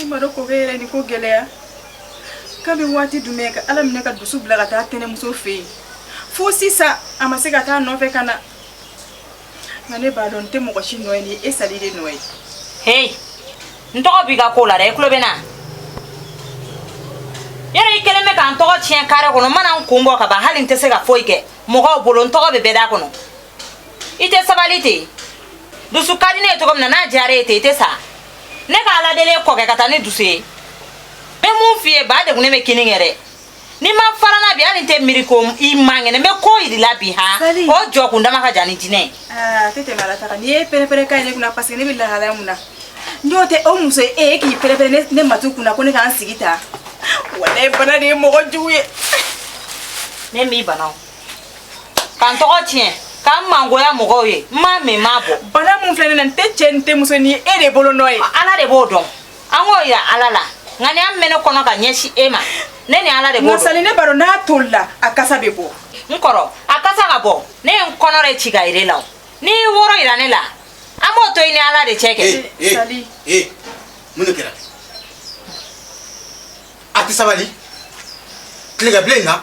I ma dɔn kɔkɛ yɛrɛ nin ko gɛlɛya kabi waati jumɛn ka ala minɛ ka dusu bila ka taa tɛnɛmuso fɛ yen fo sisan a ma se ka taa nɔfɛ ka na nka ne b'a dɔn nin tɛ mɔgɔ si nɔ ye ni e sali de nɔ ye hei n tɔgɔ b'i ka ko la dɛ i tulo bɛ n na yɛrɛ i kelen bɛ ka n tɔgɔ tiɲɛ kare kɔnɔ n mana n kun bɔ ka ban hali n tɛ se ka foyi kɛ mɔgɔw bolo n tɔgɔ bɛ bɛɛ da kɔnɔ i tɛ sabali ten dusu ka di ne ye cogo min na n'a diyara i ye ten i tɛ sa ne ka ala deli ye kɔkɛ ka taa ni dusu ye n bɛ mun f'i ye ba degunnen bɛ kini kɛ dɛ n'i ma fara n na bi hali n tɛ miiri ko i man kɛnɛ n bɛ ko yira i la bi ha o jɔ kundama ka jan ni jinɛ ye. aa tɛ tɛmɛ ala ta kan n'i ye pɛrɛpɛrɛ ka ye ne kunna paseke ne bɛ lahalaya mun na n'o tɛ o muso ye e ye k'i pɛrɛpɛrɛ ne matu kunna ko ne k'an sigi ta walayi bana de ye mɔgɔ jugu ye. ne m'i bana o. ka n tɔgɔ tiɲɛ ka n mangoya mɔgɔw ye n m'a min n m'a bɔn bana min filɛ ne na n tɛ cɛ n tɛ muso ni e de bolo nɔ ye ala de b'o dɔn an k'o yira ala la nka ni a min bɛ ne kɔnɔ ka ɲɛsin e ma ne ni ala de b'o dɔn nka sali ne b'a dɔn n'a tolila a kasa bɛ bɔ n kɔrɔ a kasa ka bɔ ne ye n kɔnɔ de ci k'a yira i la n'i y'i woro yira ne la an b'o to i ni ala de cɛ kɛ sali ee mun de kɛra a tɛ sabali tilegabilen in na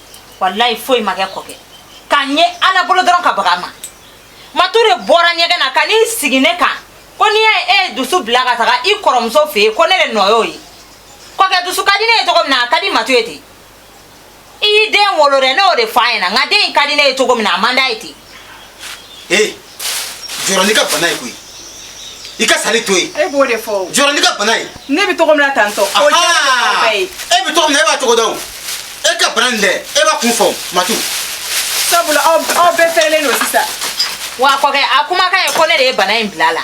walayi foyi ma kɛ kɔkɛ k'a ɲɛ ala bolo dɔrɔn ka baga ma matu de bɔra ɲɛgɛn na ka n'i sigi ne kan ko ni e ye dusu bila ka taga i kɔrɔmuso fɛ yen ko ne de nɔ y'o ye kɔkɛ dusu ka di ne ye cogo min na a ka di matu ye ten i y'i den wolo dɛ ne y'o de fɔ a ɲɛna nka den in ka di ne ye cogo min na a man d'a ye ten ee jɔrɔ n'i ka bana ye koyi i ka sali to yen e b'o de fɔ jɔrɔ n'i ka bana ye ne bɛ cogo min na tantɔ o jɛra ye e bɛ cogo min na e b'a cogo dɔn e ka bana nin dɛ e b'a kun fɔ matu sabula aw bɛɛ fɛrɛlen don sisan wa kɔkɛ a kumakan ye ko ne de ye bana in bila a la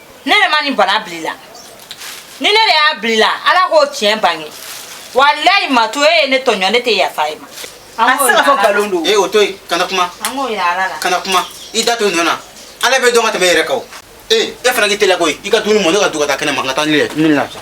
ne de ma nin bana bil'i la ni ne de y'a bil'i la ala k'o tiɲɛ bange walayi matu e ye ne tɔɲɔ ne tɛ yafa i ma a tɛ se ka fɔ nkalon don ee o to yen kana kuma an k'o yira ala la kana kuma i da to a nɔ na ala b'i dɔn ka tɛmɛ e yɛrɛ kan o ee e fana k'i teliya koyi i ka dumuni mɔ ne k'a dun ka taa kɛnɛ ma n ka taa ni ye n bɛ lafiya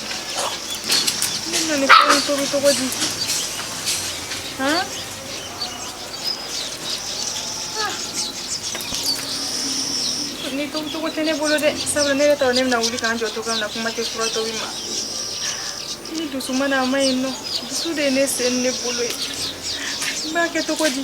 ni cogo di ni cogo tɛ ne bolo de sabula ne ta ne na wulikajɔ cogo min na kuma tɛ fura to ma ni dusu ma na mai no dusu de ne sen ne bolo ye b'a kɛ cogo di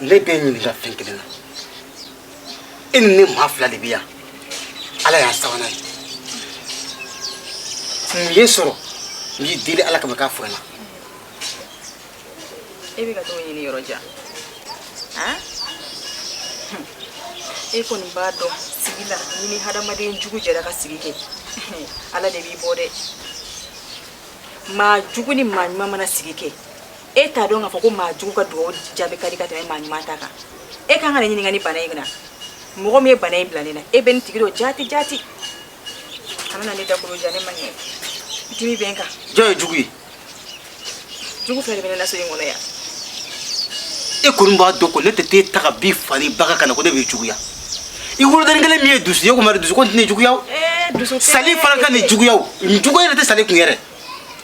ne b'i ɲininka fɛn kelen na e ni ne maa fila de bɛ yan ala y'an sabanan ye mun y'i sɔrɔ n y'i deli ala kama k'a fɔ n na e bɛ ka t'o ɲini yɔrɔ jan han e kɔni b'a dɔn sigi la n'i ni hadamaden jugu jɛra ka sigi kɛ ala de b'i bɔ dɛ maa jugu ni maa ɲuman mana sigi kɛ e t'a dɔn k'a fɔ ko maa jugu ka dugawu jaabi ka di ka tɛmɛ maa ɲuman ta kan e kan ka ne ɲininka nin bana in na mɔgɔ min ye bana in bila ne na e bɛ nin tigi dɔn jaati jaati kana ne dakolo ja ne man kɛnɛ dimi bɛ n kan jɔn ye jugu ye jugu fɛn de bɛ ne la so in kɔnɔ yan e kɔni b'a dɔn ko ne tɛ t'e ta ka b'i fa n'i ba ka ka na ko ne b'i juguya i wolodennin kelen min ye dusu ye o kuma dusu kɔni tɛ ne juguya o sali fana ka nin juguya o nin juguya yɛrɛ tɛ sali kun yɛrɛ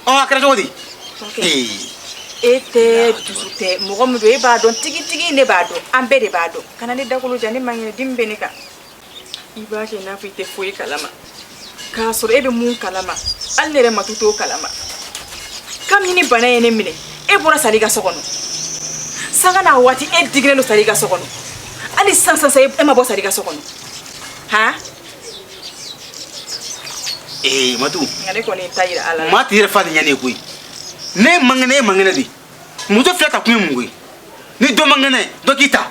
ɔ a kɛra cogo di e tɛ dusu tɛ mɔgɔ min don e b'a dɔn tigitigi ne b'a dɔn an bɛɛ de b'a dɔn kana ne dakolo ja ne man kɛnɛ dimi bɛ ne kan i b'a kɛ i n'a fɔ i tɛ foyi kalama k'a sɔrɔ e bɛ mun kalama hali ne yɛrɛ matu t'o kalama kabini nin bana ye ne minɛ e bɔra sali ka so kɔnɔ sanga ni waati e digilen don sali ka so kɔnɔ hali sisan sisan e ma bɔ sali ka so kɔnɔ han ee matu maa t'i yɛrɛ fa de ɲɛ ne ye koyi n'e man kɛnɛ e man kɛnɛ de muso fila ta kun ye mun koyi ni dɔ man kɛnɛ dɔ k'i ta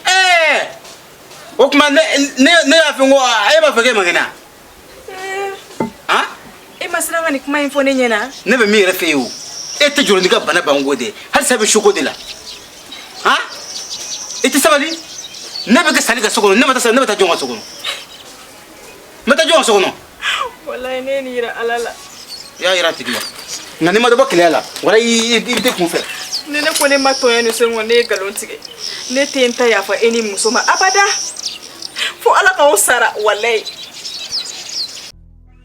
ɛɛ o tuma ne ne ne y'a fɔ ko e b'a fɔ k'e man kɛnɛ a. e ma siran ka nin kuma in fɔ ne ɲɛna ne bɛ min yɛrɛ fɛ yen o e tɛ jɔrɔ n'i ka bana banko de halisa i bɛ soko de la han i tɛ sabali ne bɛ kɛ sali ka so kɔnɔ ne ma taa sali ne bɛ taa jɔn ka so kɔnɔ n bɛ taa jɔn ka so kɔnɔ walayi n'e ye nin yira ala la i y'a yira a tigi la nka n'i ma dɔ bɔ keleya la walayi i bɛ t'i kun fɛ ni ne ko ne ma tɔɲɔ nin sen in ne ye nkalon tigɛ ne tɛ n ta yafa e ni muso ma abada fo ala k'aw sara walayi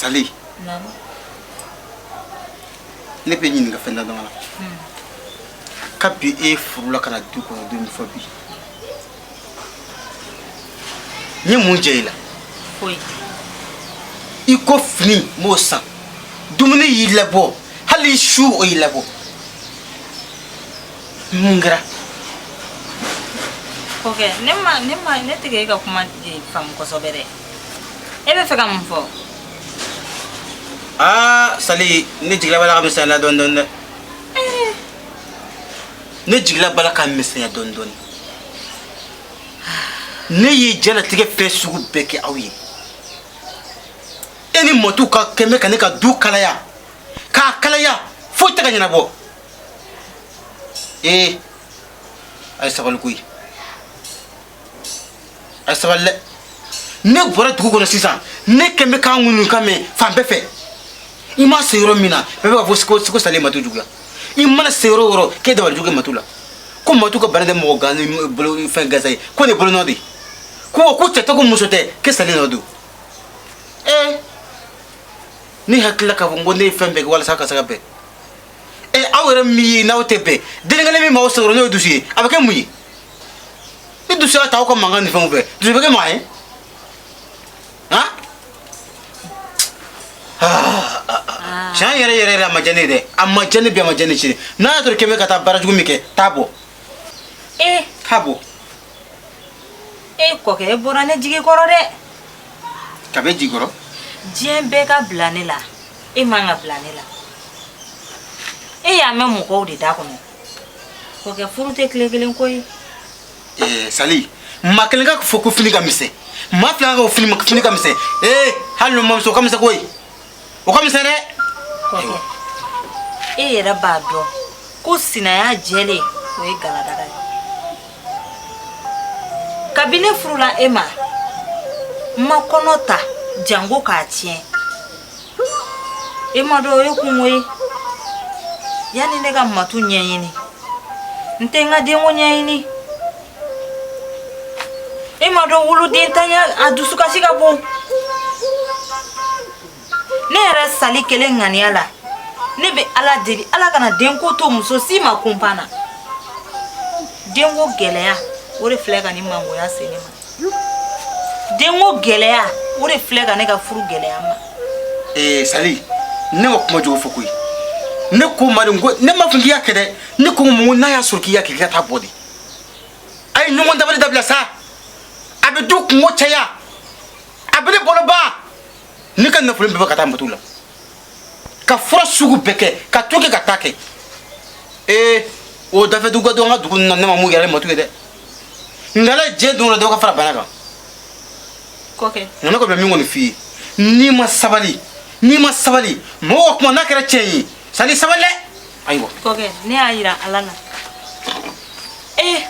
Sali. Naam. Ne b'i ɲininka fɛn dama la. Kabi e furula ka na du kɔnɔ don min fo bi. N ye mun jɛ i la? Foyi. I ko fini n b'o san. Dumuni y'i labɔ. Hali su o y'i labɔ. mun kɛra kɔkɛ ne ma ne ma ne tɛ e ka kuma faamu kosɛbɛ dɛ e b'a fɛ ka mun fɔ aa sali ne jigila b'a la ka misɛnya la dɔɔni dɔɔni dɛ eh. ne jigila b'a la ka misɛnya dɔɔni dɔɔni ne ye jɛnatigɛ fɛn sugu bɛɛ kɛ aw ye e ni matu ka kɛmɛ ka ne ka du kalaya k'a kalaya foyi tɛ ka ɲɛnabɔ ee a ye sabali koyi a ye sabali dɛ ne bɔra dugu kɔnɔ sisan ne kɛn bɛ k'an ŋunukan mɛn fan bɛɛ fɛ i ma se yɔrɔ min na bɛɛ bɛ k'a fɔ ko sali ye matu juguya i mana se yɔrɔ o yɔrɔ k'e dabali jugu kɛ matu la ko matu ka bana tɛ mɔgɔ gan bolo fɛn gansan ye ko ne bolonɔ de ye ko ko cɛ tɛ ko muso tɛ k'e sali nɔ don ee ne hakilila k'a fɔ n ko ne ye fɛn bɛɛ kɛ walasa ka se ka bɛn ee aw yɛrɛ min ye n'aw tɛ bɛn den kelen min b'aw sɔrɔ n'o ye dusu ye a bɛ kɛ mun ye ni dusu y'a ta aw ka mankan ni fɛnw fɛ dusu bɛ kɛ maa ye han tiɲɛ yɛrɛ yɛrɛ yɛrɛ a ma diya ne ye dɛ a ma diya ne bi a ma diya ne sini n'a y'a sɔrɔ k'e bɛ ka taa baara jugu min kɛ taa bɔ ee k'a bɔ e kɔkɛ e bɔra ne jigi kɔrɔ dɛ ka bɛ jigi kɔrɔ diɲɛ bɛɛ ka bila ne la e man ka bila ne la e y'a mɛn mɔgɔw de da kɔnɔ kɔkɛ furu tɛ tile kelen ko ye eh, sali maa kelen k'a fɔ ko fini ka misɛn maa fila k'a fɔ fini ka misɛn ee eh, hali n'o man misɛn o ka misɛn koyi o ka misɛn dɛ kɔkɛ e yɛrɛ b'a dɔn ko sinaya jɛlen o ye galadaga ye kabi ne furula e ma n ma kɔnɔ ta janko k'a tiɲɛ e m'a dɔn o ye kunko ye yanni ne ka matu ɲɛɲini n tɛ n ka denko ɲɛɲini E m'a dɔn wolodenntanya a dusukasi ka bon ne yɛrɛ sali kelen ŋaniya la ne bɛ ala deli ala kana denko to muso si ma kunpan na denko gɛlɛya o de filɛ ka nin mangoya se ne ma denko gɛlɛya o de filɛ ka ne ka furu gɛlɛya ma ee sali ne ma kuma jugu fɔ koyi ne ko maa de ko ne ma fɔ k'i y'a kɛ dɛ ne ko mun n'a y'a sɔrɔ k'i y'a kɛ k'i ka taa bɔ dɛ a ye ɲɔgɔn dabali dabila sa a bɛ du kunko caya a bɛ ne bolo ban ne ka nafolo bɛɛ bɛ ka taa matu la ka fura sugu bɛɛ kɛ ka to kɛ ka taa kɛ ee o dafɛ dugu ka dɔn an ka dugu na ne ma mun yɛrɛ matu ye dɛ ngala jɛ don la dɔ ka fara bana kan kɔkɛ nka ne kɔni bɛ min kɔni f'i ye n'i ma sabali n'i ma sabali mɔgɔw ka kuma n'a kɛra tiɲɛ ye Sali sabali ayiwa ne y'a yira ala la ee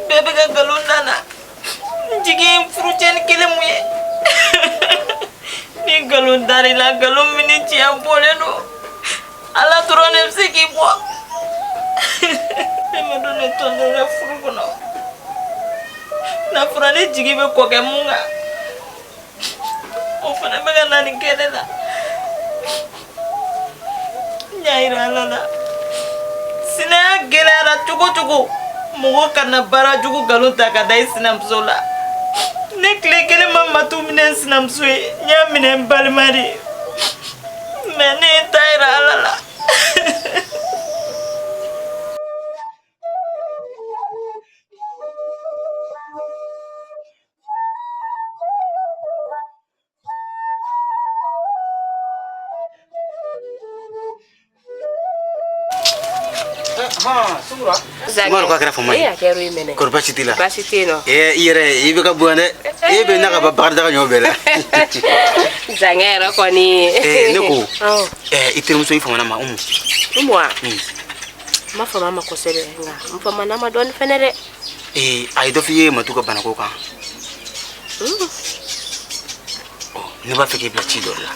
bɛɛ bɛ ka nkalon da n na n jigi furucɛni kelen min ye ni nkalon dar'i la nkalon min ni tiɲɛ bɔlen don ala dɔrɔn de bɛ se k'i bɔ ne ma dɔn ne tɔɲɔnen bɛ furu kɔnɔ n'a fɔra ne jigi bɛ kɔkɛ min kan o fana bɛ ka na nin kɛ ne la n y'a yira ala la sinaya gɛlɛyara cogo o cogo mɔgɔ kana baara jugu nkalon ta ka da i sinamuso la ne tile kelen ma matu minɛ n sinamuso ye n y'a minɛ n balima de ye mais ne ye n ta yira ala la Maro k'a kɛra fama ye. Kɔri basi t'i la? Basi tɛ yen nɔ. Ee i yɛrɛ i bɛ ka bonya dɛ. E bɛ na ka ban bakarijan ka ɲɔ bɛɛ la. Zankɛ yɛrɛ kɔni. Ee ne ko. Awɔ. Ɛɛ i terimuso i famana ma Umu. Umu wa? N ma fama ma kosɛbɛ nka n famana ma dɔɔni fɛnɛ dɛ. ee a ye dɔ f'i ye matu ka banako kan hmm. oh, ne b'a fɛ k'i bila ci dɔ la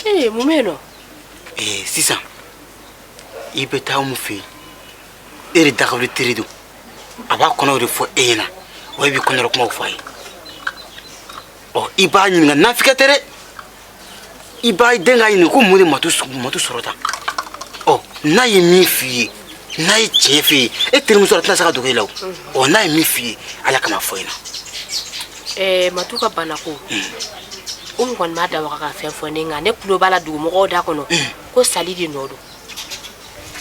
ee mun bɛ yen nɔ ee sisan i bɛ taa Umu fɛ yen e de dagawuli teri don a b'a kɔnɔw de fɔ e ɲɛna wa i b'i kɔnɔrɔ kumaw fɔ a ye ɔ i b'a ɲininka nafigiya tɛ dɛ i b'a dɛn k'a ɲininka ko mun de matu sɔrɔ tan ɔ n'a ye min f'i ye n'a ye tiɲɛ f'i ye e terimuso a tɛna se ka dogo i la o ɔ n'a ye min f'i ye ala kama fɔ i na. ɛɛ matu ka banako. Umu kɔni m'a da waga ka fɛn fɔ n ye nka ne tulo b'a la dugumɔgɔw da kɔnɔ ko sali de nɔ don.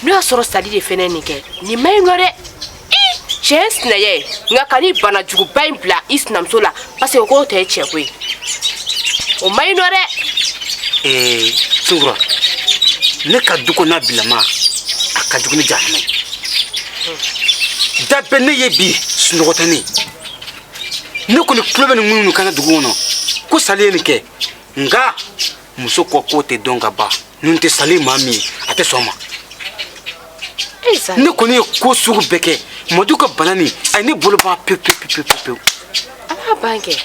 n'o y'a sɔrɔ sali de fɛnɛ nin kɛ nin man ɲi nɔ dɛ tiɲɛ sinaya nka ka nin bana juguba in bila i sinamuso la parce que k'o tɛ cɛ ko ye o man ɲi nɔ dɛ ee sunkura ne ka du kɔnɔna bilama a ka jugu ni jahanama ye da bɛ ne ye bi sunɔgɔ tɛ ne ne kɔni tulo bɛ ŋunuŋunukan na dugu kɔnɔ ko sali ye nin kɛ nka muso ko tɛ dɔn ka ban n'o tɛ sali maa min ye a tɛ sɔn o ma ne kɔni ye ko sugu bɛɛ kɛ matu ka bana nin a ye ne bolo ban pewu pewu pewu pewu pewu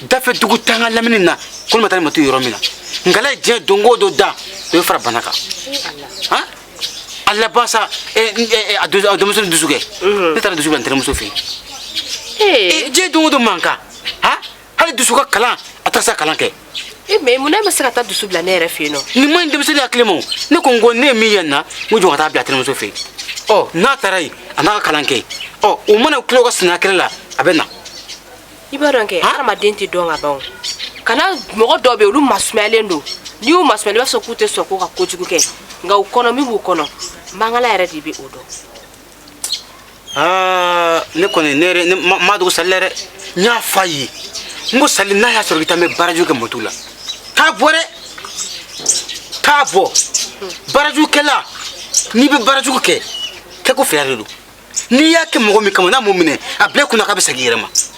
dafɛ dugu tan ka lamini na ko ne ma taa ni matu yɔrɔ min na nka ala ye dugu jɛ don o don dɔ bɛ fara bana kan han a laban sa a denmuso ni dusu kɛ ne taara dusu bila n tɛnɛmuso fɛ yen dugu jɛ don o don mankan han hali dusu ka kalan a tɛ se kalan kɛ e eh, mɛ mun na e ma se ka taa dusu bila ne yɛrɛ fɛ yen nɔ nin ma ɲi denmisɛnnin hakili ma ne ko n ko ne ye min ye nin na n ko jɔ ka taa bila tɛnɛmuso fɛ yen ɔ n'a taara yen a n'a ka kalan kɛ ɔ u mana tila u ka sinaya kɛlɛ la a bɛ na i b'a dɔn kɛ hadamaden tɛ dɔn ka ban o kana mɔgɔ dɔw bɛ yen olu masumayalen don n'i y'u masumaya i b'a sɔrɔ k'u tɛ sɔn k'u ka kojugu kɛ nka u kɔnɔ min b'u kɔnɔ mangala yɛrɛ de bɛ o dɔn aa ne kɔni ne yɛrɛ ne m'a dogo sali la dɛ n y'a fɔ a ye n ko sali n'a y'a sɔrɔ k'i tun bɛ baarajugu kɛ matu la k'a bɔ dɛ k'a bɔ baarajugu kɛla n'i bɛ baarajugu kɛ kɛko fila de don n'i y'a kɛ mɔgɔ min kama n'a m'o minɛ a bila i kun na k'a bɛ segin i yɛrɛ ma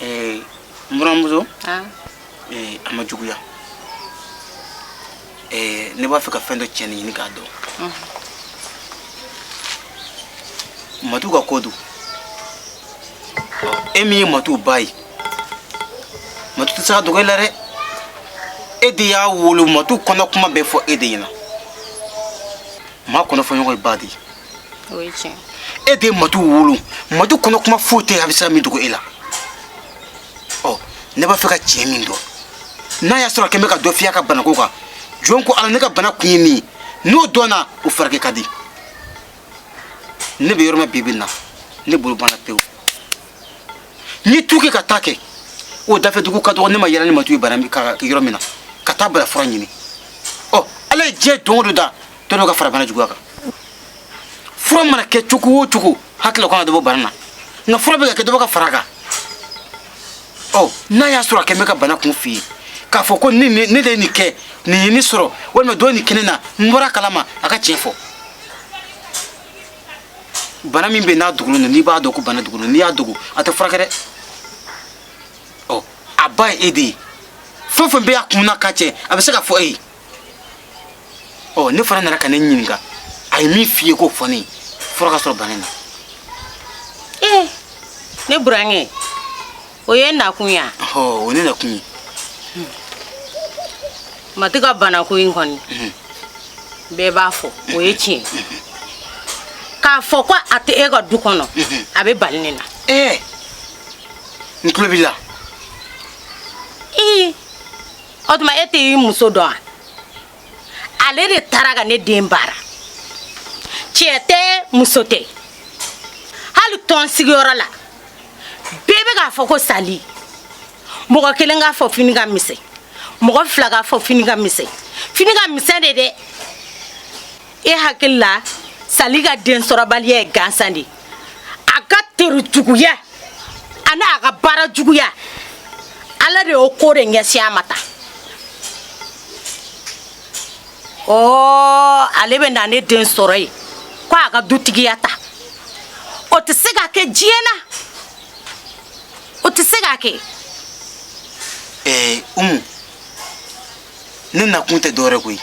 n buranmuso a ma juguya ne b'a fɛ ka fɛn dɔ tiɲɛ ɲini k'a dɔn matu ka ko don e min ye matu ba ye matu tɛ se ka dogo i la dɛ e de y'a wolo matu kɔnɔ kuma bɛ fɔ e de ɲɛna maa kɔnɔ fɔ ɲɔgɔn ye ba de ye o ye tiɲɛ e de ye matu wolo matu kɔnɔ kuma foyi tɛ a bɛ se ka min dogo e la ɔ ne b'a fɛ ka tiɲɛ min dɔn n'a y'a sɔrɔ a kɛ bɛ ka dɔ f'i ye a ka banako kan jɔn ko ala ne ka bana kun ye min ye n'o dɔnna o furakɛ ka di ne bɛ yɔrɔ min bi bi in na ne bolo banna pewu n'i tu kɛ ka taa kɛ o dafɛ dugu ka dɔgɔ ne ma yaala ni matu ye bana yɔrɔ min na ka taa bana fura ɲini ɔ ala ye diɲɛ don o don da dɔ dɔ ka fara bana juguya kan fura mana kɛ cogo o cogo hakili la k'o na dɔ bɔ bana na nka fura bɛ ka kɛ dɔ bɛ ka fara kan ɔ n'a y'a sɔrɔ a kɛ bɛ ka bana kun f'i ye k'a fɔ ko ne de ye nin kɛ nin ye ne sɔrɔ walima dɔ ye nin kɛ ne na n bɔra a kalama a ka tiɲɛ fɔ bana min bɛ n'a dogolen don n'i b'a dɔn ko bana dogolen don n'i y'a dogo a tɛ furakɛ dɛ ɔ a ba ye e de ye fɛn o fɛn bɛ a kun na ka cɛ a bɛ se k'a fɔ e ye ɔ ne fana nana ka n'e ɲininka a ye min f'i ye k'o fɔ ne ye fɔlɔ ka sɔrɔ bana na ee ne burankɛ o y'e nakun ye wa ɔ o ne nakun ye matu ka banako in kɔni bɛɛ b'a fɔ o ye tiɲɛ k'a fɔ ko a tɛ e ka du kɔnɔ a bɛ bali ne na ee n tulo b'i la ee o tuma e tɛ i muso dɔn wa ale de taara ka ne den baara cɛ tɛ muso tɛ hali tɔn sigiyɔrɔ la bɛɛ bɛ k'a fɔ ko sali mɔgɔ kelen k'a fɔ fini ka misɛn mɔgɔ fila k'a fɔ fini ka misɛn fini ka misɛn de dɛ e hakili la sali ka densɔrɔbaliya ye gansan de ye a ka tere juguya ani a ka baara juguya ala de y'o ko de ɲɛsin a ma tan ɔɔ ale bɛ na ne den sɔrɔ yen ko a ka dutigiya ta o tɛ se ka kɛ diɲɛ na o tɛ se ka kɛ. ɛɛ umu ne nakun tɛ dɔwɛrɛ koyi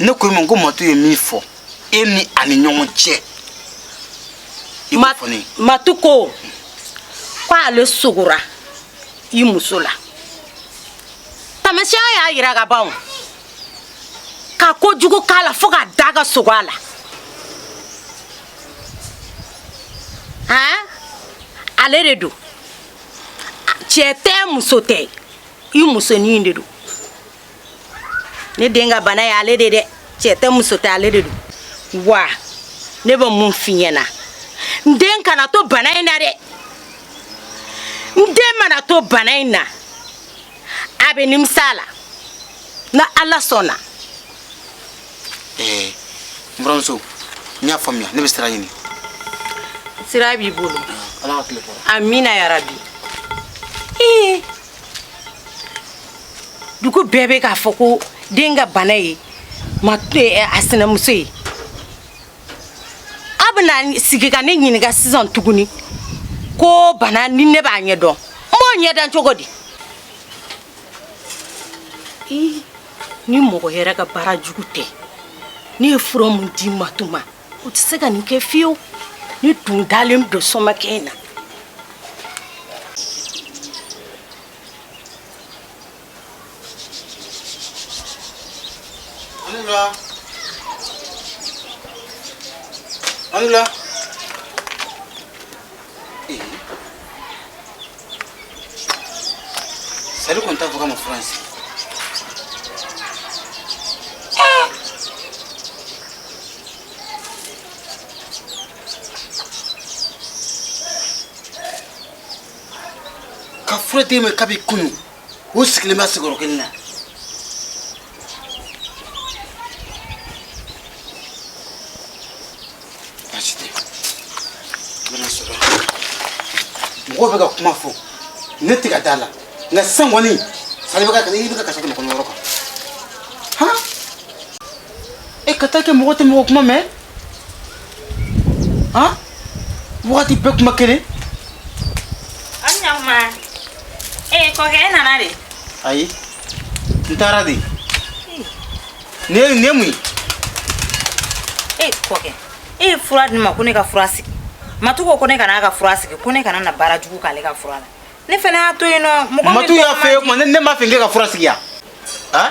ne ko i ma ko matu ye min fɔ. e ni a ni ɲɔgɔn cɛ i b'o fɔ ne ye matu ko k'ale sugora i muso la taamasiyɛn y'a yira ka ban o ka ko jugu k'a la fo ka da ka sogo a la han ale de don cɛ tɛ muso tɛ i musonin de don ne den ka bana ye ale de dɛ cɛ tɛ muso tɛ ale de don wa ne bɛ min f'i ɲɛ na n den kana to bana in na dɛ n den mana to bana in na a bɛ nimisa a la ni ala sɔnna. ɛɛ n buranmuso n y'a faamuya ne bɛ sira ɲini. sira b'i bolo. ala ka tile hɛɛrɛ. amina yarabi. ee. dugu bɛɛ bɛ k'a fɔ ko den ka bana ye ma eh, a sinamuso ye a bɛna sigi ka ne ɲininka sisan tuguni ko bana ni ne b'a ɲɛ dɔn n b'o ɲɛ dɔn cogo di ni mɔgɔ yɛrɛ ka baara jugu tɛ ne ye fura min di matu ma o tɛ se ka nin kɛ fiyewu ne tun dalen don somakɛ in na Anula. Sali kɔni ta fɔ ka ma fura sigi ka fura d'e ma kabi kunu o sigilen bɛ sigiyɔrɔ kelen na baasi tɛ n bɛna sɔrɔ mɔgɔw bɛ ka kuma fɔ ne tɛ ka da a la nka sisan kɔni sali bɛ ka i bɛ ka kasa kɛmɛ kɔnɔ yɔrɔ kan han e ka taa kɛ mɔgɔ tɛ mɔgɔ kuma mɛn han wagati bɛɛ kuma kelen ani ɲakuma ee kɔkɛ e nana de ayi n taara de ne ye ne mun ye ee kɔkɛ e ye fura di ne ma ko ne ka fura sigi matu ko ko ne kana a ka fura sigi ko ne kana na baara jugu k'ale ka fura la ne fana y'a to yen nɔ mɔgɔ min matu y'a tɔgɔ fɛ man o di- kuma ne ne m'a fɔ k'e ka fura sigi yan han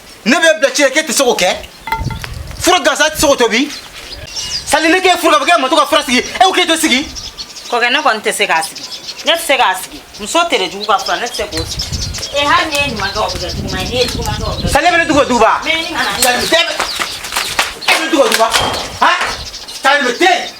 ne b'e bila ci la k'e tɛ se k'o kɛ fura gansan tɛ se k'o tobi sali ne k'e furu ka fɔ k'e matu ka fura sigi e ko k'e t'o sigi kɔkɛ ne kɔni tɛ se k'a sigi ne tɛ se k'a sigi muso tere jugu ka fura ne tɛ se k'o sigi ee hali n'i ye ɲuman kɛ o bɛ kɛ juguman ye n'i ye juguman kɛ o bɛ kɛ sali e bɛ ne dugu duguba mɛ ni kana e bɛ ne dugu duguba han sali bɛ den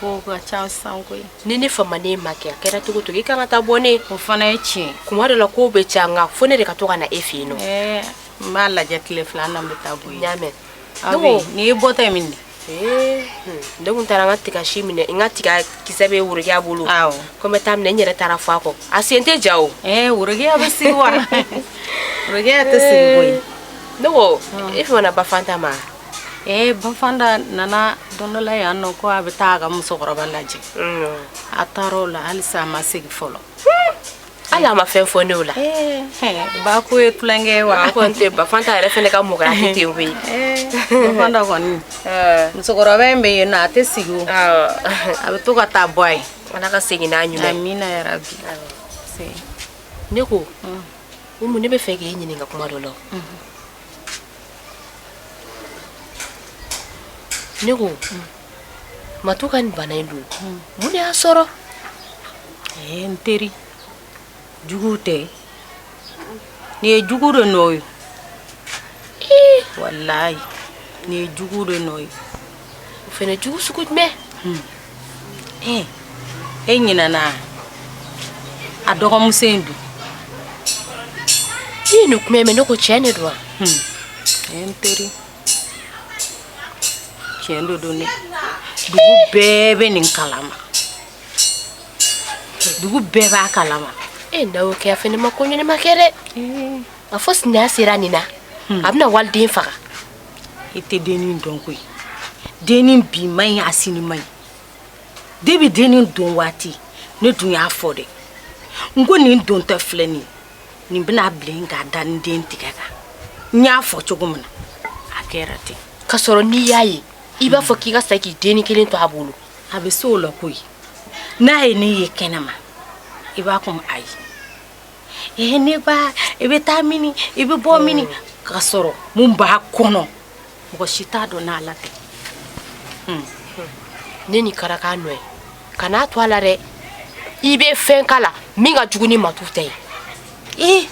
ko ka ca sisan koyi ni ne famaden ma kɛ a kɛra cogo cogo i kan ka taa bɔ ne o fana ye tiɲɛ kuma dɔ la ko bɛ ca nka fo ne de ka to ka na e fɛ yen nɔ n b'a lajɛ tile fila na n bɛ taa bɔ yen y'a mɛn nin ye bɔta ye min de ne tun taara n ka tigasi minɛ n ka tiga kisɛ bɛ worokiya bolo ko n bɛ taa minɛ n yɛrɛ taara fɔ a kɔ a sen tɛ ja o worokiya bɛ sigi wa worokiya tɛ sigi koyi ne ko e fana ba fanta ma Ɛɛ ba fanta nana don dɔ la yan nɔ ko a bɛ taa a ka musokɔrɔba lajɛ a taara o la hali a ma segin fɔlɔ hali a ma fɛn fɔ ne o la ba ko ye tulonkɛ ye wa tɛ ba fanta yɛrɛ fana ka mɔgɔya tɛ ten koyi ba fanta kɔni musokɔrɔba in bɛ yen a tɛ sigi a bɛ to ka taa bɔ a ye ala ka segin n'a ɲuman amina yarabi ne ko umu ne b'a fɛ k'i ɲininka kuma dɔ la ne ko matu ka nin bana in dun mun de y'a sɔrɔ ee n teri jugu tɛ nin ye jugu de nɔ ye walayi nin ye jugu de nɔ ye o fana jugu sugu jumɛn e ɲinɛna a dɔgɔmuso in dun i ye nin kuma mɛn ne ko tiɲɛ de don wa n teri tiɲɛ de don dɛ dugu bɛɛ bɛ nin kalama dugu bɛɛ b'a kalama e n'a y'o kɛ a fana ma ko ɲɛnama kɛ dɛ a fɔ sinaya sera nin na a bɛna waliden faga i tɛ dennin dɔn koyi dennin bi man ɲi a sini man ɲi debi dennin don waati ne dun y'a fɔ dɛ n ko nin dontɔ filɛ nin nin bɛna bilen k'a da ni den tigɛ kan n y'a fɔ cogo min na a kɛra ten ka sɔrɔ n'i y'a ye i b'a fɔ k'i ka sa k'i dennin kelen to a bolo a bɛ se o la koyi n'a ye ne ye kɛnɛma i b'a kun ayi ee ne ba i bɛ taa mini i bɛ bɔ mini k'a sɔrɔ mun b'a kɔnɔ mɔgɔ si t'a dɔn n'Ala tɛ hmm. ne ni kɛra k'a nɔ ye kan'a to a la dɛ i bɛ fɛn k'a la min ka jugu ni matu ta ye ee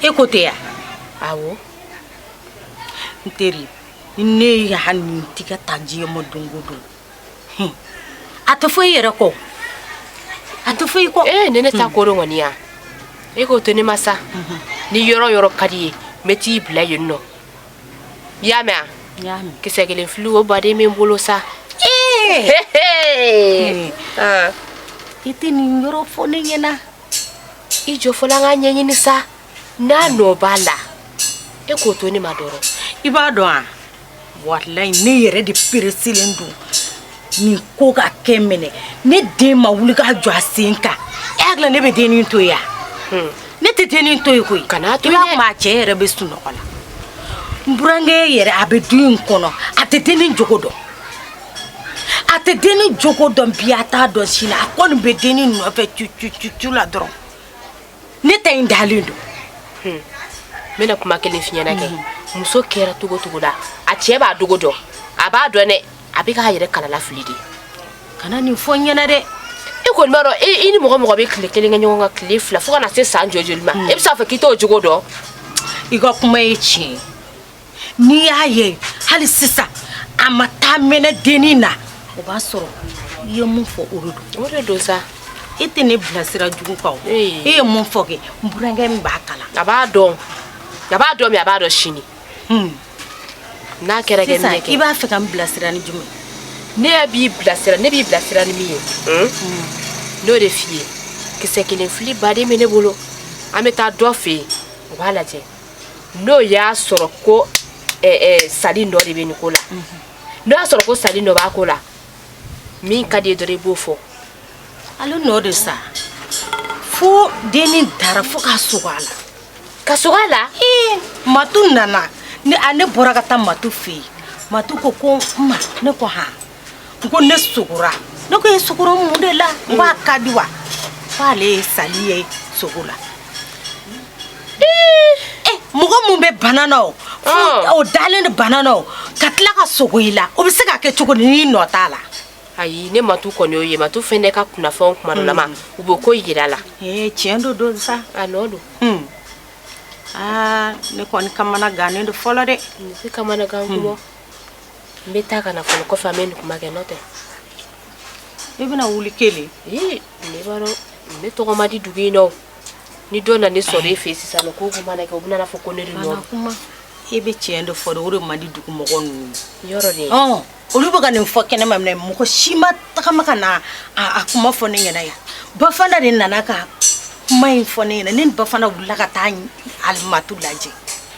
e ko tɛ ya awɔ n teri ne ye hali ni n tɛ ka tanji ye ma don o don a tɛ fɔ i yɛrɛ kɔ a tɛ fɔ i kɔ ee ne ne t'a ko dɔn kɔni ya e k'o to ne ma sa ni yɔrɔ yɔrɔ ka d'i ye n bɛ t'i bila yen nɔ i y'a mɛn a kisɛ kelen fili o baden bɛ n bolo sa i tɛ nin yɔrɔ fɔ ne ɲɛna i jɔ fɔlɔ an k'a ɲɛɲini sa n'a nɔ b'a la e k'o to ne ma dɔrɔn i b'a dɔn wa walayi ne yɛrɛ de peresilen don nin ko ka kɛ minɛ ne den ma wuli k'a jɔ a sen kan e hakili ne bɛ dennin to yan hmm. ne tɛ dennin to yen koyi kan'a to yen maa cɛ yɛrɛ bɛ sunɔgɔ la n burankɛ yɛrɛ a bɛ du in kɔnɔ a tɛ dennin jogo dɔn a tɛ dennin jogo dɔn bi a t'a dɔn sini a kɔni bɛ dennin nɔfɛ cucucucu la dɔrɔn ne ta in dalen don n bɛna kuma kelen f'i ɲɛna kɛ muso kɛra cogo cogo la a cɛ b'a jogo dɔn a b'a dɔn dɛ a bɛ k'a yɛrɛ kalala fili de kana nin fɔ n ɲɛna dɛ e kɔni b'a dɔn i ni mɔgɔ mɔgɔ bɛ tile kelen kɛ ɲɔgɔn kan tile fila fo ka na se san joli joli ma e bɛ se k'a fɔ k'i t'o jogo dɔn i ka kuma ye tiɲɛ ye n'i y'a ye hali sisan a ma ta mɛnɛ dennin na o b'a sɔrɔ i ye mun fɔ o de don o de don sa e tɛ ne bila sira jugu kan o e ye mun fɔ kɛ n burankɛ min b'a kalama a b'a dɔn a b'a dɔn bi a b'a dɔn sini hmm. n'a kɛra kɛ minɛ kɛ i b'a fɛ ka n bilasira ni jumɛn ne y'a b'i bilasira ne b'i bilasira ni min ye hmm? Hmm. n'o de f'i ye kisɛ kelen fili baden bɛ ne bolo an bɛ taa dɔ fɛ yen o b'a lajɛ n'o y'a sɔrɔ ko sali nɔ de bɛ nin ko la n'o y'a sɔrɔ ko sali nɔ b'a ko la min ka d'i ye dɔrɔn i b'o fɔ ale nɔ de sa fo dennin dara fo ka sogo a la ka sogo a la matu nana ne bɔra ka taa matu fɛ yen matu ko ko ma ne ko h n ko ne sogora ne ko e sogora mun de la n ko a ka di wa ko ale ye sali ye sogo la Eh, mɔgɔ mun bɛ bana na o fo Ah. o dalen de bana na o ka tila ka sogo i la o bɛ se ka kɛ cogo di n'i nɔ t'a la ayi ne matu kɔni y'o ye matu fɛnɛ ka kunnafɛnw kuma dɔ lama u bɛ ko yira la ee tiɲɛ don don sa a nɔ don Hmm. aa ne kɔni kamana gannen don fɔlɔ dɛ ne tɛ kamanagan kuma n bɛ taa ka na fɔlɔ kɔfɛ an bɛ nin kuma kɛ n'o tɛ i bɛna wuli kelen ee ne b'a dɔn ne tɔgɔ ma di dugu in na o ni dɔ nana ne sɔrɔ e fɛ sisan nɔ ko ko mana kɛ u bɛna fɔ ko ne de nɔ kuma e bɛ tiɲɛ de fɔ de o de man di dugu mɔgɔ ninnu yɔrɔ de ɔn olu bɛ ka nin fɔ kɛnɛma minɛ mɔgɔ si ma tagama ka na a kuma fɔ ne ɲɛna yan bafana de nana ka kuma in fɔ ne ɲɛna ne ni bafana wulila ka taa alimatu lajɛ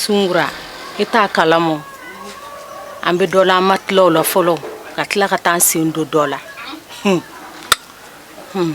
sunkura i t'a kalama an bɛ dɔ la an ma tila o la fɔlɔ ka tila ka taa an sen don dɔ la Hmm. Hmm.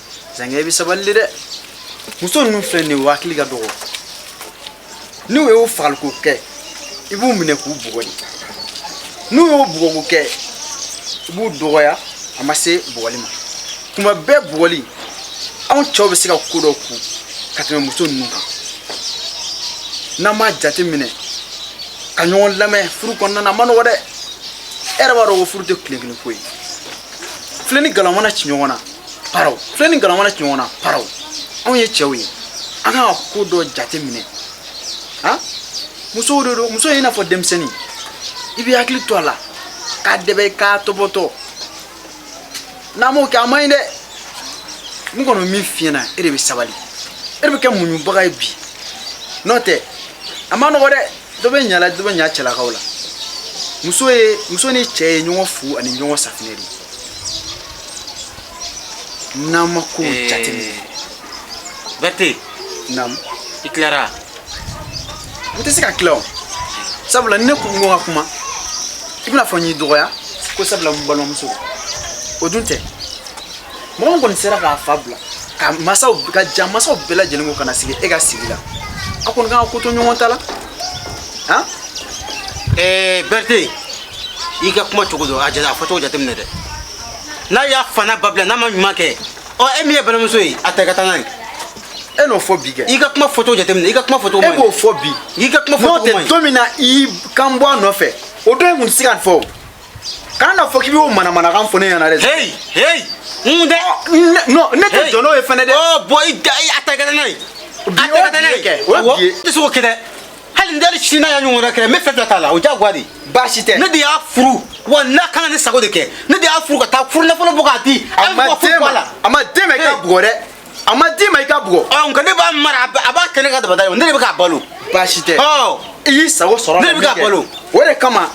zankɛ i bɛ sabali de dɛ muso ninnu filɛ nin ye u hakili ka dɔgɔ n'u y'o fagaliko kɛ i b'u minɛ k'u bugɔ de n'u y'o bugɔko kɛ i b'u dɔgɔya a ma se bugɔli ma kuma bɛɛ bugɔli anw cɛw bɛ se ka ko dɔ kun ka tɛmɛ muso ninnu kan n'an m'a jate minɛ ka ɲɔgɔn lamɛn furu kɔnɔna na a ma nɔgɔ dɛ e yɛrɛ b'a dɔn ko furu tɛ tile kelen ko ye filen ni galama mana ci ɲɔgɔn na paraw filen ni galama mana ci ɲɔgɔn na paraw anw ye cɛw ye an kan ka ko dɔ jate minɛ han muso de don muso ye i n'a fɔ denmisɛnnin i bɛ hakili to a la k'a dɛbɛ k'a tɔbɔtɔ n'an m'o kɛ a man ɲi dɛ n kɔni min f'i ɲɛna e de bɛ sabali e de bɛ kɛ muɲubaga ye bi n'o tɛ a ma nɔgɔ dɛ dɔ bɛ ɲa la dɔ bɛ ɲa cɛlakaw la muso ye muso ni cɛ ye ɲɔgɔn fu ani ɲɔgɔn safinɛ de ye N'an ma ko ee, jateminɛ bɛte naamu i tilara n tɛ se ka tila o sabula ni ne ko n ko n ka kuma i bɛna fɔ n y'i dɔgɔya ko sabula n balimamuso o dun tɛ mɔgɔ min kɔni sera k'a fa bila ka ja masaw bɛɛ lajɛlen ko ka na sigi e ka sigi la a kɔni kan ka ko to ɲɔgɔn ta la han ee bɛte i ka kuma cogo dɔn a jate a fɔcogo jateminɛ dɛ n'a y'a fa n'a ba bila n'a ma ɲuman kɛ ɔ e min ye balimamuso ye a ta i ka taa n'a ye e n'o fɔ bi kɛ i ka kuma fɔcogo jateminɛ i ka kuma fɔcogo e b'o fɔ bi i ka kuma fɔcogo n'o tɛ don min na i kun b'a nɔfɛ o don e kun tɛ se ka nin fɔ o kana n'a fɔ k'i b'o manamanakan fɔ ne ɲɛna dɛ. heyi heyi n tɛ. non ne tɛ jɔ n'o ye fɛnɛ dɛ. ɔ bɔn i da a ta i ka taa n'a ye. bi o bi ye kɛ o bi ye. i tɛ se k'o kɛ dɛ. hali n dali sini n'a y'a ɲɔgɔn wɛrɛ kɛ n bɛ fɛn fila t'a la o diyagoya de baasi tɛ ne de y'a furu wa n'a kan ka ne sago de kɛ ne de y'a furu ka taa furu nafolo bɔ k'a di a ma d'e ma a ma d'e ma i k'a bugɔ dɛ a ma d'e ma i k'a bugɔ ɔ nka ne b'a mara a b'a kɛ ne ka dabada ye ne de bɛ k'a balo baasi tɛ ɔ i y'i sago sɔrɔ ne de bɛ k'a balo o de kama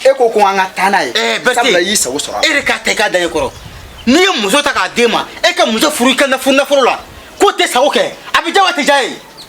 e ko ko an ka taa n'a ye eh, sabula i y'i sago sɔrɔ e de k'a ta i k'a da i kɔrɔ n'i ye muso ta k'a d'e ma e ka muso furu i ka nafolo la k'o t'e sago kɛ a bɛ diya wa a tɛ diya ye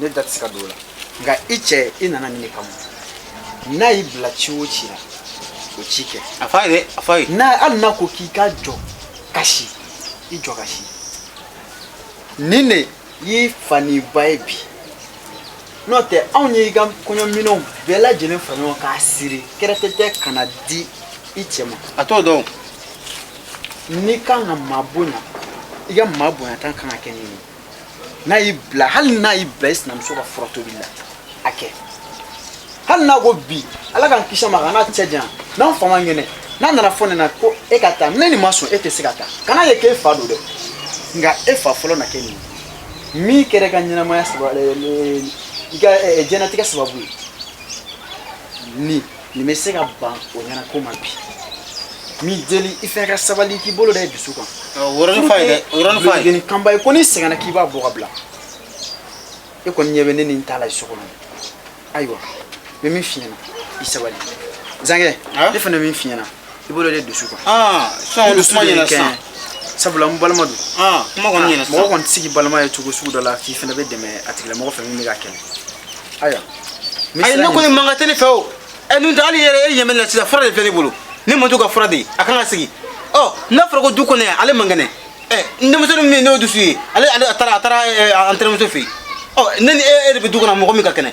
ne da tɛ se ka don o la nka i cɛ i nana nin de kama n'a y'i bila ci o ci la o ci kɛ a f'a ye dɛ a f'a ye n'a hali n'a ko k'i ka jɔ ka si i jɔ ka si nin de y'i fa ni ba ye bi n'o tɛ anw ye i ka kɔɲɔminɛnw bɛɛ lajɛlen fara ɲɔgɔn k'a siri kɛrɛtɛtɛ ka n'a di i cɛ ma a t'o dɔn n'i kan ka maa bonya i ka maa bonyata kan ka kɛ nin ye n'a y'i bila hali n'a y'i bila i sinamuso ka fura tobi la a kɛ hali n'a ko bi ala k'an kisi a ma k'an n'a cɛ janya n'an fa man kɛnɛ n'a nana fɔ ne na ko e ka taa ni nin ma sɔn e tɛ se ka taa kan'a ye k'e fa don dɛ nka e fa fɔlɔ na kɛ nin ye min kɛra i ka ɲɛnamaya sababu i ka diɲɛlatigɛ sababu ye nin nin bɛ se ka ban o ɲɛna ko maa bi min deli i fɛ e ka sabali k'i bolo da i dusu kan o yɔrɔnin f'a ye dɛ o yɔrɔnin f'a ye nin kanba ye ko n'i sɛgɛnna k'i b'a bɔ k'a bila e kɔni ɲɛ bɛ ne ni n ta la so kɔnɔ ayiwa n bɛ min f'i ɲɛna i sabali zankɛ ne fana bɛ min f'i ɲɛna i bolo da i dusu kan sɔn dusu ma ɲɛna sisan sabula n balima don kuma kɔni ɲɛna mɔgɔ kɔni tɛ se k'i balima ye cogo sugu dɔ la k'i fana bɛ dɛmɛ a tigilamɔgɔ fɛ min bɛ k'a kɛlɛ ayiwa ayi ne kɔni mankan tɛ ne fɛ o ɛ nun tɛ hali yɛrɛ e ɲɛ bɛ n na sisan fura de filɛ ne bolo ne man to ka fura de ye a kan ka sigi ɔ n'a fɔra ko du kɔnɔ yan ale man kɛnɛ ɛ n denmisɛnnin min ye n'o dusu ye ale ale a taara a taara an tɛnɛmuso fɛ yen ɔ ne ni e e de bɛ du kɔnɔ mɔgɔ min ka kɛnɛ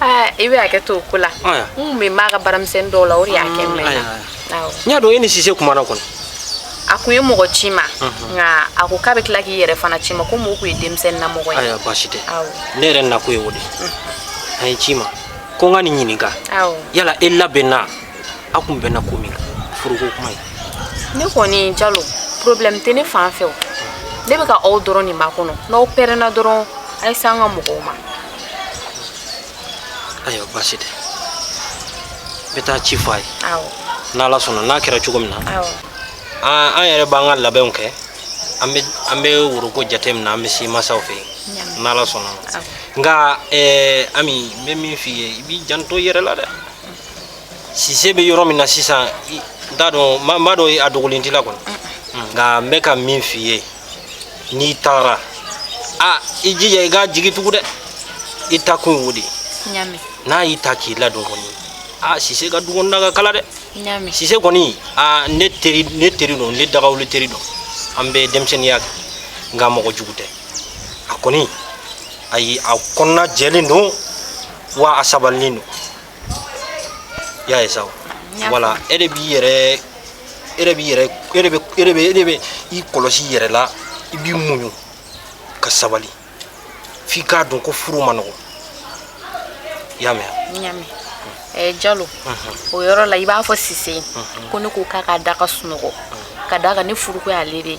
Ah, i bɛ hakɛ to o ko la n kun bɛ maa ka baaramisɛnnin dɔw la o de y'a kɛ n mɛnna n y'a dɔn e ni sise kumana kɔni a kun ye mɔgɔ ci n ma mhm. nka a ko k'a bɛ tila k'i yɛrɛ fana ci n ma ko mɔgɔ kun ye denmisɛnnin na mɔgɔ ye ayiwa baasi tɛ ne yɛrɛ nakun ye o de mhm. a ye n ci i ma ko n ka n'i ɲininka yala e labɛnna aw kun bɛnna ko min kan furuko kuma ye ne kɔni jalo problème tɛ ne fan fɛ o ne bɛ ka aw dɔrɔn de makɔnɔ n'aw pɛrɛnna dɔrɔn a ye se an ka mɔgɔw ma ayiwa baasi tɛ n bɛ taa ci fɔ a ye awɔ n'ala sɔnna n'a kɛra cogo min na awɔ an an yɛrɛ b'an ka labɛnw kɛ an bɛ an bɛ woroko jate minɛ an bɛ se masaw fɛ yen Ɲa. n'ala sɔnna awɔ nka ɛɛ ami n bɛ min f'i ye i b'i janto i yɛrɛ la dɛ sise bɛ yɔrɔ min na sisan n t'a dɔn n b'a dɔn a dogolen t'i la kɔni nka n bɛ ka min f'i ye n'i taara a i jija i k'a jigi tugu dɛ i ta kun y'o de ye n'a y'i ta k'i ladon kɔni a sise ka du kɔnɔna ka kalan dɛ sise kɔni a ne teri ne teri don ne dagawuli teri don an bɛ denmisɛnninya kɛ nka mɔgɔ jugu tɛ a kɔni ayi a kɔnɔna jɛlen don wa a sabalilen don i y'a ye sa wala e de b'i yɛrɛ e de b'i yɛrɛ e de bɛ e de bɛ e de bɛ i kɔlɔsi i yɛrɛ la i b'i muɲu ka sabali f'i k'a dɔn ko furu man nɔgɔn i y'a mɛn wa. n y'a mɛn eh, jalo o yɔrɔ la i b'a fɔ sise ko ne ko k'a ka da ka sunɔgɔ ka d'a kan ne furuko y'ale de ye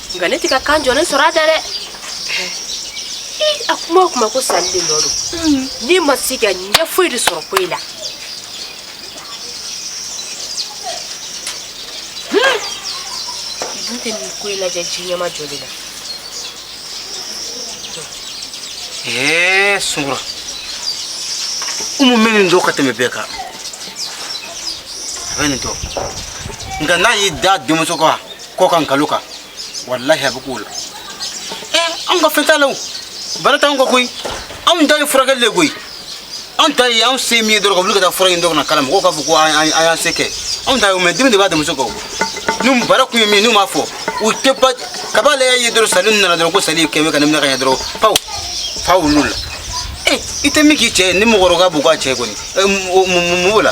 nka ne tɛ ka kan jɔlen sɔrɔ a da dɛ a kuma o kuma ko sali de nɔ don ne ma se ka ɲɛ foyi de sɔrɔ ko in na dun tɛ nin ko in lajɛ ji ɲɛmajɔlen na ee sunkura umu bɛ nin dɔn ka tɛmɛ bɛɛ kan a bɛ nin dɔn nka n'a y'i da denmuso kan kɔ kan nkalon kan walahi a bɛ k'o la ɛ anw ka fɛn t'a la o bana t'anw kan koyi anw ta ye furakɛli de koyi anw ta ye anw se min ye dɔrɔn ka wuli ka taa fura ɲini dɔ ka na k'a la mɔgɔw k'a fɔ ko an y'an se kɛ anw ta ye o mɛ dimi de b'a denmuso kan o n'u bara kun ye min n'u m'a fɔ u tɛ ba kab'ale y'a ye dɔrɔn sali nana dɔrɔn ko sali kɛmɛ ka ne minɛ ka ɲɛ dɔrɔn paw fa wulil'a la ee i tɛ min k'i cɛ ye ni mɔgɔkɔrɔba b'o k'a cɛ kɔni mun b'o la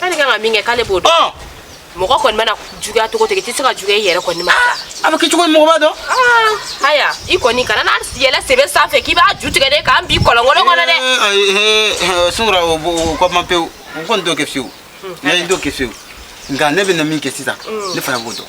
K'ale kan ka min kɛ k'ale b'o dɔn. Ɔ! Mɔgɔ kɔni mana juguya cogo o cogo i tɛ se ka juguya i yɛrɛ kɔni ma sa. A bɛ kɛ cogo min mɔgɔ b'a dɔn? Aa! Haya i kɔni kana n'an yɛlɛn sebe sanfɛ k'i b'a ju tigɛ dɛ k'an bin kɔlɔnkolon kɔnɔ dɛ. Ee ayi ee ee Sunkura o bɔ o ko ma pewu. O kɔni t'o kɛ fiyewu. Hun, haya. N t'o kɛ fiyewu. Nka ne bɛna min kɛ sisan. Un. Ne fana b'o dɔn.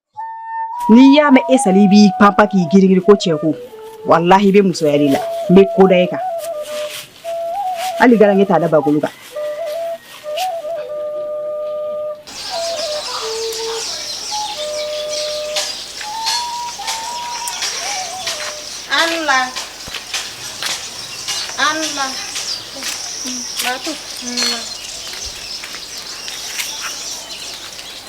n'i y'a mɛn e sali b'i panpan k'i girigiri ko cɛko walahi i bɛ musoya de la n bɛ ko da e kan hali garange t'a da bagolo kan Allah Allah Batu Allah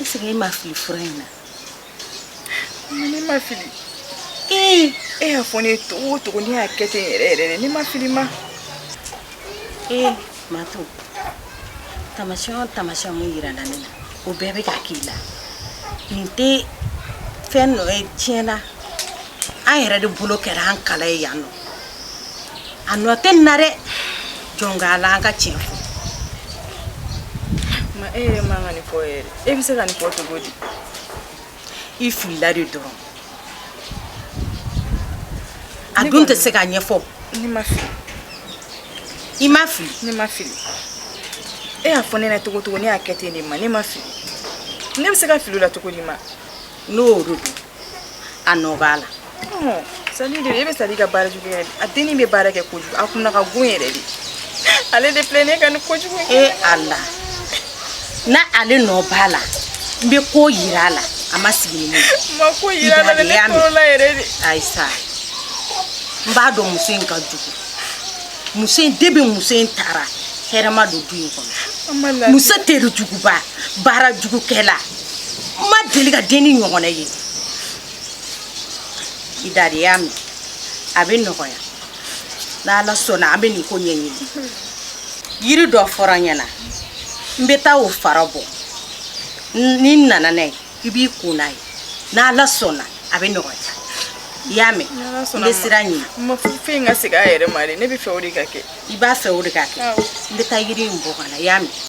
ɛsike e ma fili fura in na ne ma fili ee eh! e y'a fɔ ne ye cogo o cogo ne y'a kɛ ten yɛrɛ yɛrɛ de ne ma fili ma ee eh, mato tamasiyɛn o tamasiyɛn mun yirala ne na o bɛɛ bɛ ka k'i la nin tɛ fɛn nɔ ye tiɲɛ na an yɛrɛ de bolo kɛra an kala ye yan nɔ a nɔ tɛ n na dɛ jɔn k'ala an ka tiɲɛ fɔ ma e yɛrɛ man ka nin fɔ yɛrɛ e bɛ se ka nin fɔ cogo di i filila de dɔrɔn a dun tɛ se ka ɲɛfɔ ne ma fili i ma fili ne ma fili e y'a fɔ ne ɲɛna cogo cogo ne y'a kɛ ten de ma ne ma fili ne bɛ se ka fili o la cogo di ma n'o y'o de dun a nɔ b'a la sali de bɛ sali ka baara jugu yɛrɛ a denni bɛ baara kɛ kojugu a kunna ka go yɛrɛ de ale de filɛ ne ka ni kojugu e ala na ale nɔ b'a la n bɛ ko yira a la a ma sigi ni ne ye ma ko yira a la ne tɔɔrɔla yɛrɛ de ayi sa n b'a dɔn muso in ka jugu muso in de bɛ muso in tara hɛrɛ ma don du in kɔnɔ muso tere juguba baara jugukɛla n ma deli ka denni ɲɔgɔnna ye i da de i y'a mɛn a bɛ nɔgɔya n'ala sɔnna an bɛ nin ko ɲɛɲini yiri dɔ fɔra n ɲɛna n bɛ taa o fara bɔ ni n nana n'a ye i b'i ko n'a ye n'ala sɔnna a bɛ nɔgɔya i y'a mɛn n bɛ sira ɲini ma fɛn in ka segin a yɛrɛ ma de ne b'a fɛ o de ka kɛ i b'a fɛ o de ka kɛ n bɛ taa yiri in bɔ ka na i y'a mɛn